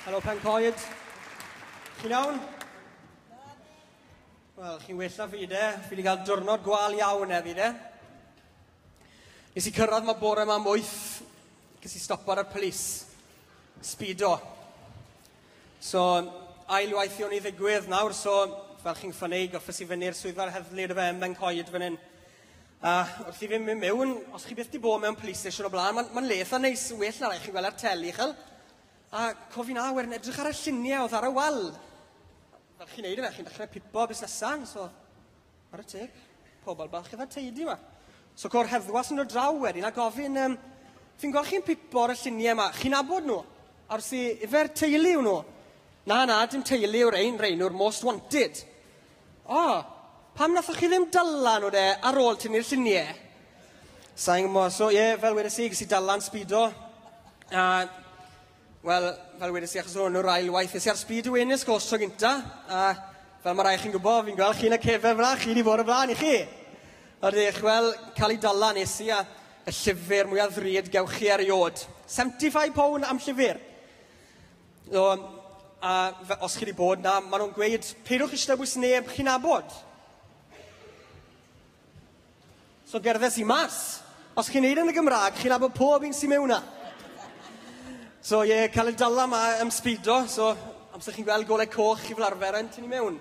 Helo, Pen Coed. Chi'n iawn? Wel, chi'n well na fi de. Fi wedi cael diwrnod gwal iawn e fi de. Nes i cyrraedd mae bore yma am wyth. Ges i stop ar y polis. Speedo. So, ail waith i o'n i ddigwydd nawr, so fel chi'n ffynnu, goffes i fyny'r swyddfa'r heddlu dy fe yn Ben Coed fan hyn. A wrth i fi mynd mewn, os chi byth di bod mewn police station o blaen, mae'n ma le eitha neis, well na rai chi'n gweld ar teli, chel? A cofi na, werin edrych ar y lluniau oedd ar y wal. Fel chi'n neud yna, chi'n dechrau pipo busnesau, so... Ar y teg, pobl bach eitha teidi yma. So co'r heddwas yn dod draw wedyn a gofyn, um, fi'n gweld chi'n pipo ar y lluniau yma, chi'n nabod nhw? A wrth i, ifer teulu yw nhw? Na, na, dim teulu yw'r ein, rhain yw'r most wanted. O! Pam nathoch chi ddim dala nhw de ar ôl tynnu'r llunie? Sain gwybod, so ie, fel wedes i, ges i dalan sbido. A, wel, fel wedes i, achos hwn yw'r ail waith, nes i ar sbid y wenis gos tro gynta. A, fel mae rai chi'n gwybod, fi'n gweld chi'n y cefen fla, chi wedi bod y blaen i chi. Ydych, wel, cael ei dala nes i a y llyfr mwyaf ddrud gewch chi erioed. 75 pound am llyfr. No, a os chi wedi bod na, maen nhw'n gweud, peidwch eisiau dewis neb chi'n abod. So gerddes i mas. Os chi'n neud yn y Gymraeg, chi'n abod pob un sy'n mewn na. So ie, yeah, cael y dala yma am sbido, so amser chi'n gweld golau coch chi fel arfer yn tynnu mewn.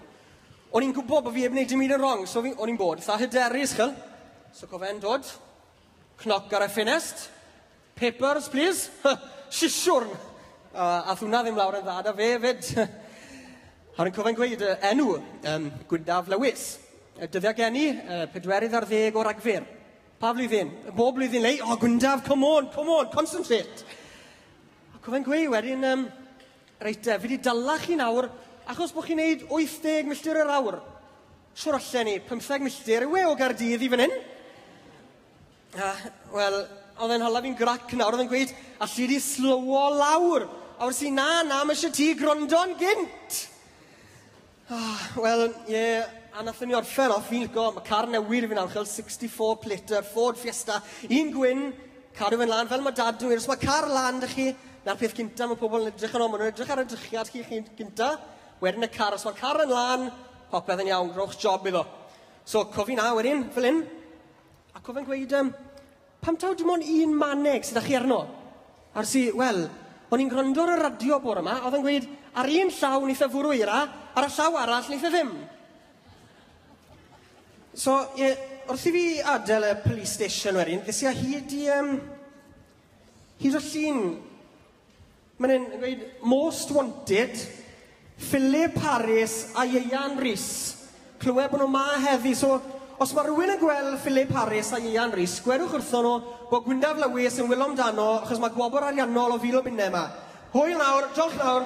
O'n i'n gwybod bod fi heb wneud dim un yn wrong, so o'n i'n bod. Sa hyderus, chel. So cofen dod, cnoc ar y ffinest, Peppers plîs? Sisiwrn! Aeth hwnna ddim lawr yn dda 'da fe 'fyd. A rwy'n cofio'n gweud y enw, um, Gwyndaf Lewis. Y dyddiau gen i, uh, pedwerydd ar ddeg o Ragfyr. Pa flwyddyn? Bob blwyddyn lei, o, Gwyndaf, come on, come on, concentrate. A cofio'n gweud wedyn, um, reit, uh, fi wedi dala chi nawr, achos bod chi'n neud 80 milltir yr awr. Siwr allan ni, 15 milltir yw e o Gardydd i fan hyn. A, wel, oedd e'n hala fi'n grac nawr, oedd e'n gweud, alli di slowo lawr. A wrth si, na, na, mae eisiau ti gwrando'n gynt. Ah, wel, ie, yeah, a nathon ni orffen off, fi'n lico, mae car newydd i fi nawr, chael 64 plater, Ford Fiesta, un gwyn, cadw fe'n lan, fel mae dad yn os mae car lan da chi, na'r peth cynta mae pobl yn edrych yn ôl, maen nhw'n edrych ar y drychiad chi, chi gynta, wedyn y car, os mae car yn lan, popeth yn iawn, rhowch job iddo. So, cofi na, wedyn, fel hyn, Ac oedd e'n gweud, um, pam taw dim ond un maneg sydd â chi arno? Ar si, wel, o'n i'n gwrando ar y radio bore yma, oedd e'n gweud, ar un llaw ni fe fwrw eira, ar y llaw arall ni fe ddim. So, ie, wrth i fi adael y police station wedyn, fes i a hyd i, um, hyd o llun Mae'n e'n gweud most wanted, Philip Harris a Ieuan Rhys. Clywed bod nhw ma heddi, so os mae rhywun yn gweld Philip Harris a Ieuan Rhys, gwerwch wrthon nhw bod Gwyndaf Lewis yn wylo amdano achos mae gwobr ariannol o fil o bunnau yma. Hwyl nawr, diolch nawr.